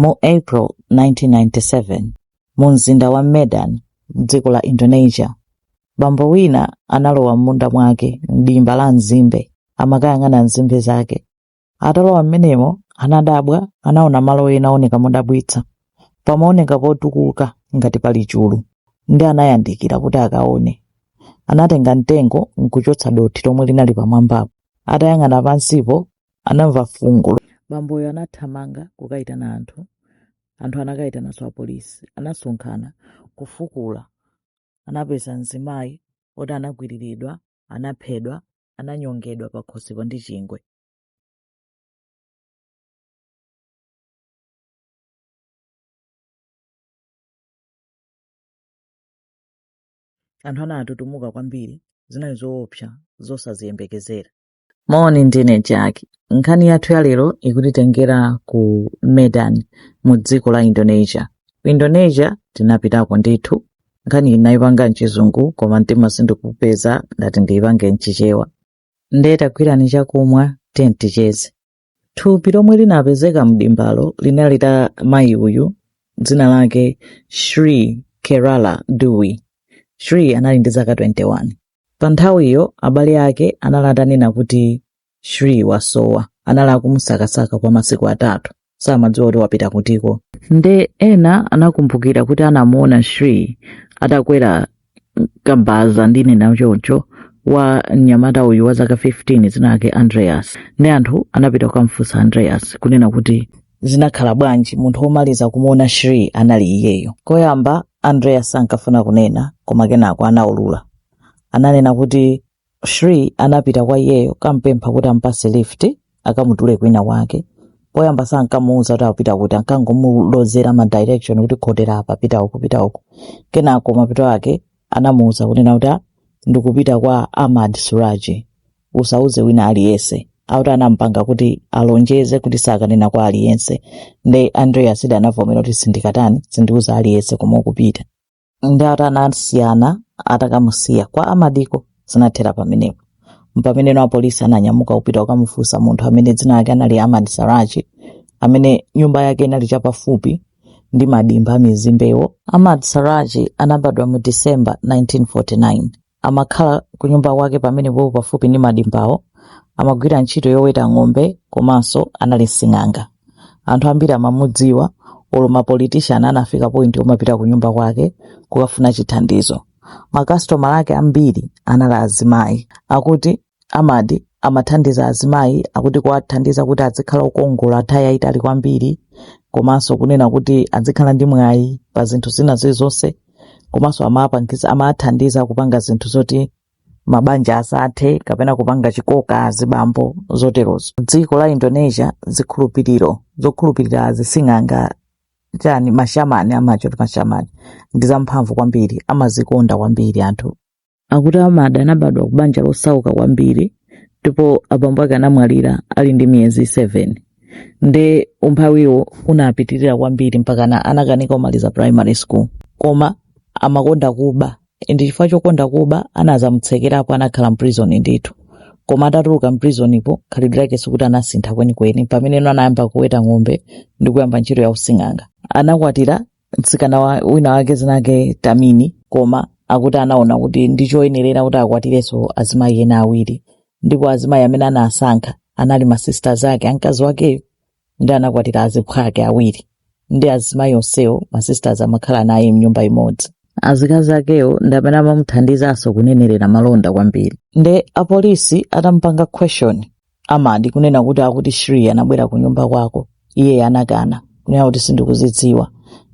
Mu April 1997, mu mzinda wa Medan, m'dziko la Indonesia, bambo wina analowa m'munda mwake m'dimba la nzimbe amakayang'ana nzimbe zake. Atalowa m'menemo anadabwa, anaona malo ena ooneka modabwitsa, pamaoneka potukuka ngati pali chulu, ndi anayandikira kuti akaone. Anatenga mtengo n'kuchotsa dothi lomwe linali pamwambapo. Atayang'ana pansipo anamva fungo bamboyo anathamanga kukayitana anthu anthu anakayitananso apolisi anasonkhana kufukula anapeza mzimayi oti anagwiriridwa anaphedwa ananyongedwa pakhosipo ndi chingwe anthu anatutumuka kwambiri zinali zoopsa zosaziyembekezera moni ndine jaki nkhani yathu ya lero ikutitengera ku medan mu dziko la indonesia ku indonesia tinapitako ndithu nkhani ndinayipanga mchizungu koma mtima sunkupeza ndati ndiyipange mchichewa nde tagwirani chakumwa ticheze Thupi lomwe linapezeka mdimbalo linali la mayi uyu dzina lake Shri Kemala Dewi. Shri anali ndi zaka 21. Pa nthawiyo abale ake anali atanena kuti Shri wasowa. Anali akumusakasaka kwa masiku atatu, samadziwa kuti wapita kutiko. Nde ena anakumbukira kuti anamuona Shri atakwera kabaza ndinena choncho wa mnyamata uyu wa zaka 15 dzina lake andreas ndi anthu anapita kukamfunsa andreas kunena kuti zinakhala bwanji munthu womaliza kumuona shri anali iyeyo koyamba andreas sankafuna kunena koma kenako anaulula ananena kuti Shri anapita kwa iyeyo kampempha kuti ampase lift akamutule kwina kwake poyamba sankamuuza kuti akupita kuti ankangomulozera ma direction kuti khotera apa pita uku pita uku kenako mapeto ake anamuuza kunena kuti "Ah, ndikupita kwa Ahmad Suraji usauze wina aliyense auti anampanga kuti alonjeze kuti sakanena kwa aliyense nde Andreas uja anavomera kuti sindikatani sindiuza aliyense komwe ukupita nde atasiyana atakamusiya kwa amadiko zinathera pamenepo mpameneno apolisi ananyamuka kupita kukamufunsa munthu amene dzina lake anali amad suraji amene nyumba yake inali chapafupi ndi madimba a nzimbewo amad suraji anabadwa mu december 1949 Amakhala kunyumba kwake pamenepo pafupi ndi madimbawo. Amagwira ntchito yoweta ng'ombe komanso anali sing'anga. Anthu ambiri amamudziwa, olo mapolitishani anafika pointi yomapita kunyumba kwake kukafuna chithandizo. Makasitomala ake ambiri anali azimayi. Akuti Amad amathandiza azimayi akuti kuwathandiza kuti adzikhala okongola nthawi yayitali kwambiri komanso kunena kuti adzikhala ndi mwayi pa zinthu zina zilizonse komanso amawapangisa amawathandiza kupanga zinthu zoti mabanja asathe kapena kupanga chikoka azibambo zoterozo dziko la indonesia zikhulupiriro zokhulupirira azising'anga chani mashamani amawati mashamani ndi zamphamvu kwambiri amazikonda kwambiri anthu akuti amadi anabadwa ku banja losauka kwambiri ndipo abambo ake anamwalira ali ndi miyezi 7 nde umphawiwo unapitirira kwambiri mpakana anakanika kumaliza primary school koma amakonda kuba ndi chifukwa chokonda kuba anazamutsekerapo anakhala mprison ndithu koma atatuluka mprisonpo khalidwe lake sikuti anasintha kwenikweni pameneno anayamba kuweta ng'ombe ndi kuyamba ntchito yausing'anga anakwatira mtsikana wa- wina wake dzina lake tamini koma akuti anaona kuti nchoyenerera kuti akwatirenso azimayi ena awiri ndipo azimayi amene anasankha anali masisters ake a mkazi wakeyo ndi anakwatira azilamu ake awiri ndi azimayi onsewo masisters amakhala naye mnyumba imodzi azikazi akewo ndi amene amamuthandizanso kunenerera malonda kwambiri nde apolisi atampanga question Amadi, kunena kuti akuti Sri anabwera ku nyumba kwako, iye anakana kunena kuti sindikudziwa.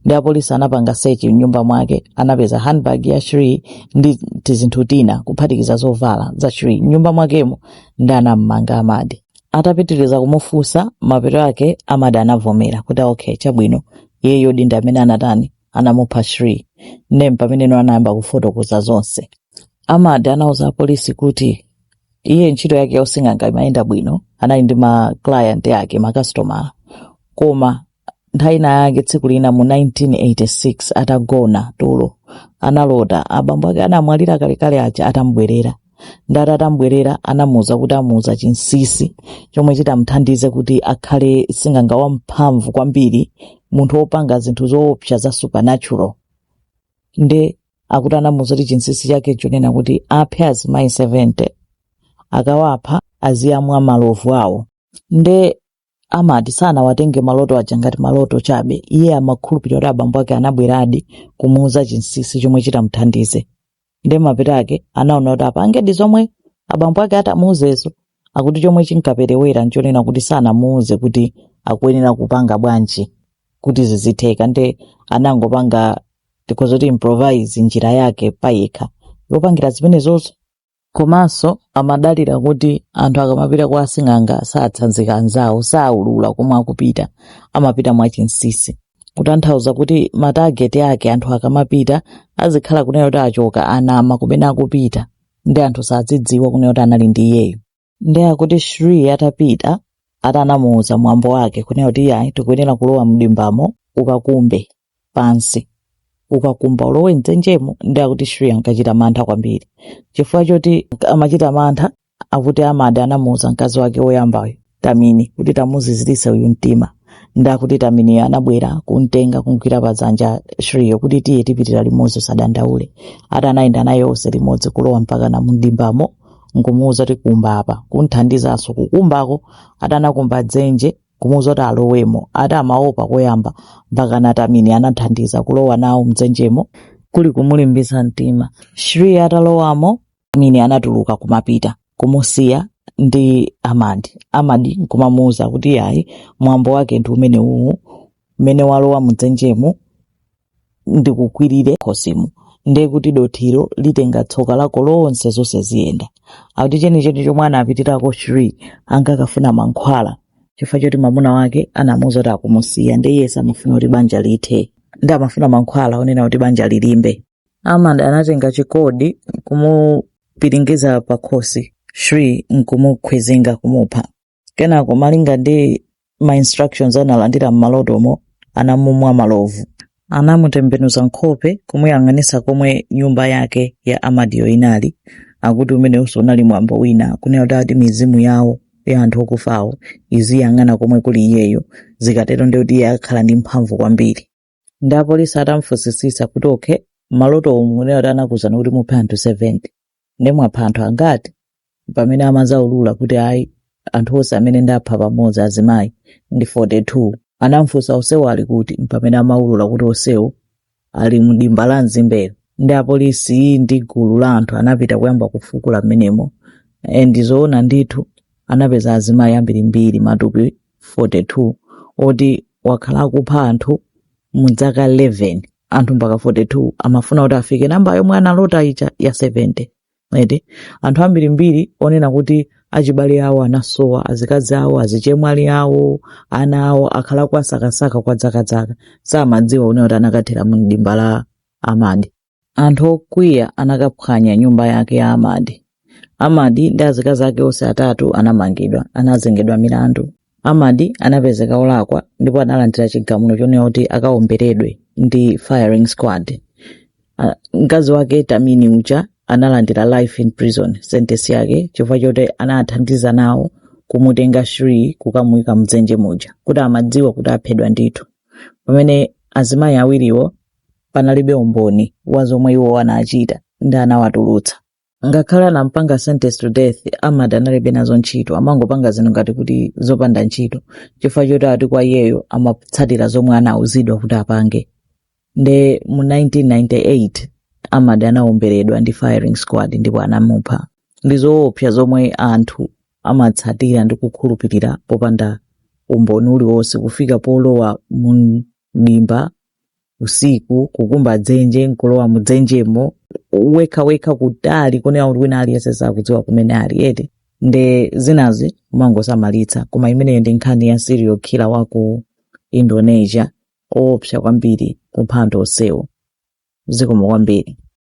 Ndi apolisi anapanga search mnyumba mwake, anapeza handbag ya Sri ndi tizinthu tina kuphatikiza zovala za Sri mnyumba mwakemo, ndi anammanga Amadi. Atapitiriza kumufunsa, mapeto ake Amadi anavomera kuti okay, chabwino, iyeyo ndi amene anatani, anamupha Sri. Ndi pameneno anayamba kufotokoza zonse. Amadi anauza apolisi kuti iye ntchito yake yausing'anga imayenda bwino anali ndi ma client ake makasitoma koma nthawi ina yake tsiku lina mu 1986 atagona tulo analota abambo ake anamwalira kalekale aja atamubwerera nde atamubwerera anamuuza kuti amuuza chinsisi chomwe chitamuthandize kuti akhale sing'anga wamphamvu kwambiri munthu wopanga zinthu zoopsa za supernatural nde akuti anamuuza kuti chinsinsi chake nchonena kuti aphe azimayi 70 akawapha aziyamwa malovu awo nde amadi sanawatenge maloto aja ngati maloto chabe iye amakhulupirira kuti abambo ake anabweradi kumuuza chinsinsi chomwe chitamuthandize nde mapeto ake anaona kuti apangedi zomwe abambo ake atamuuzezo akuti chomwe chinkaperewera nchonena kuti sanamuuze kuti akuyenera kupanga bwanji kuti zizitheka nde anangopanga tikhoza kuti improvise njira yake payekha yopangira zimenezozo komanso amadalira kuti anthu akamapita kwa asing'anga satsanzika anzawo saulula komwe akupita amapita mwachinsisi kutanthauza kuti matageti ake anthu akamapita azikhala kunena kuti achoka anama kumene akupita ndi anthu sazidziwa kunena kuti anali ndi iyeyo ndiye akuti shri atapita ati anamuwuza mwambo wake kunena kuti iyayi tikuyenera kulowa mdimbamo ukakumbe pansi ukakumba ulowe mdzenjemo ndiye akuti shri ankachita mantha kwambiri chifukwa choti amachita mantha akuti amadi anamuwuza mkazi wake woyambayo tamini kuti tamuziziritse uyu mtima ndakuti taminiyo anabwera kumtenga kumgwira padzanja shriyo kuti tiye tipitire limodzi usadandaule ati anayenda naye onse limodzi kulowa mpaka na mdimbamo nkumuwuza kuti kumba apa kumthandizanso kukumbako ati anakumba dzenje kumuwuza kuti alowemo ati amaopa koyamba mpaka na tamini anathandiza kulowa nawo mdzenjemo kuli kumulimbitsa mtima shriyo atalowamo mini anatuluka kumapita kumusiya ndi amadi amadi nkumamuuza kuti ayi mwambo wake ndi umenewu mmene walowa mudzenjemu ndikukwirire mkhosimu ndiye kuti dothilo litenga tsoka lako lonse zonse ziyenda akuti chenicheni chomwe anapitirako shri ankakafuna mankhwala chifukwa choti mwamuna wake anamuuza kuti akumusiya ndiye iye samafuna kuti banja lithe ndiye amafuna mankhwala onena kuti banja lilimbe Ahmad anatenga chikodi kumupiringiza pakhosi Shri nkumukhwizinga kumupha. Kenako malinga ndi ma instructions analandira m'malotomo anamumwa malovu. Anamutembenuza nkhope kumuyang'anisa komwe nyumba yake ya Amadiyo inali akuti umenewonso unali mwambo wina kunena kuti ati mizimu yawo ya anthu okufawo iziyang'ana komwe kuli iyeyo zikatero ndikuti iye akhala ndi mphamvu kwambiri. ndi apolisi atamfusisisa kuti okay maloto umu kunena kuti anakuuzani kuti muphe anthu 70 ndiye mwapha anthu angati mpamene amazaulula kuti ayi anthu onse amene ndapha pamodzi azimayi ndi 42 anamfunsa onsewo ali kuti mpamene amaulula kuti onsewo ali mdimba la mzimbelo ndi apolisi ndi gulu la anthu anapita kuyamba kufukula mmenemo and zoona ndithu anapeza azimayi ambirimbiri matupi 42 oti wakhala akupha anthu mu dzaka 11 anthu mpaka 42 amafuna kuti afike nambala yomwe analota ija ya 70 eti anthu ambirimbiri onena kuti achibale awo anasowa azikazi awo azichemwali awo ana awo akhala akuwasakasaka kwa dzakadzaka samadziwa kunena kuti anakathera mu dimba la amadi Anthu okwiya anakaphwanya nyumba yake ya Amadi. Amadi ndi azikazi ake onse atatu anamangidwa, anazengedwa milandu. Amadi anapezeka olakwa ndipo analandira chigamulo chonena kuti akaomberedwe ndi firing squad. Ah, Mkazi wake Tamini uja analandira life in prison sentence yake chifukwa choti anathandiza nawo kumutenga Shri kukamuyika mdzenje muja kuti amadziwa kuti aphedwa ndithu. Pamene azimayi awiriwo panalibe umboni wa zomwe iwo anachita ndiye anawatulutsa ngakhale anampanga sentenced to death amad analibe nazo ntchito amangopanga zinthu ngati kuti zopanda ntchito chifukwa choti ati kwa iyeyo amatsatira zomwe anauzidwa kuti apange nde mu 1998 amad anaomberedwa ndi firing squad ndipo anamupha ndi zoopsa zomwe anthu amatsatira ndi kukhulupirira popanda umboni uliwonse kufika polowa mu dimba usiku kukumba dzenje nkulowa mu dzenjemo wekha wekha kutali kunena kuti wina aliyense sakudziwa kumene uli eti nde zinazi umangosamalitsa koma imeneyo ndi nkhani ya serial killer wa ku indonesia oopsa kwambiri kupha anthu onsewo zikomo kwambiri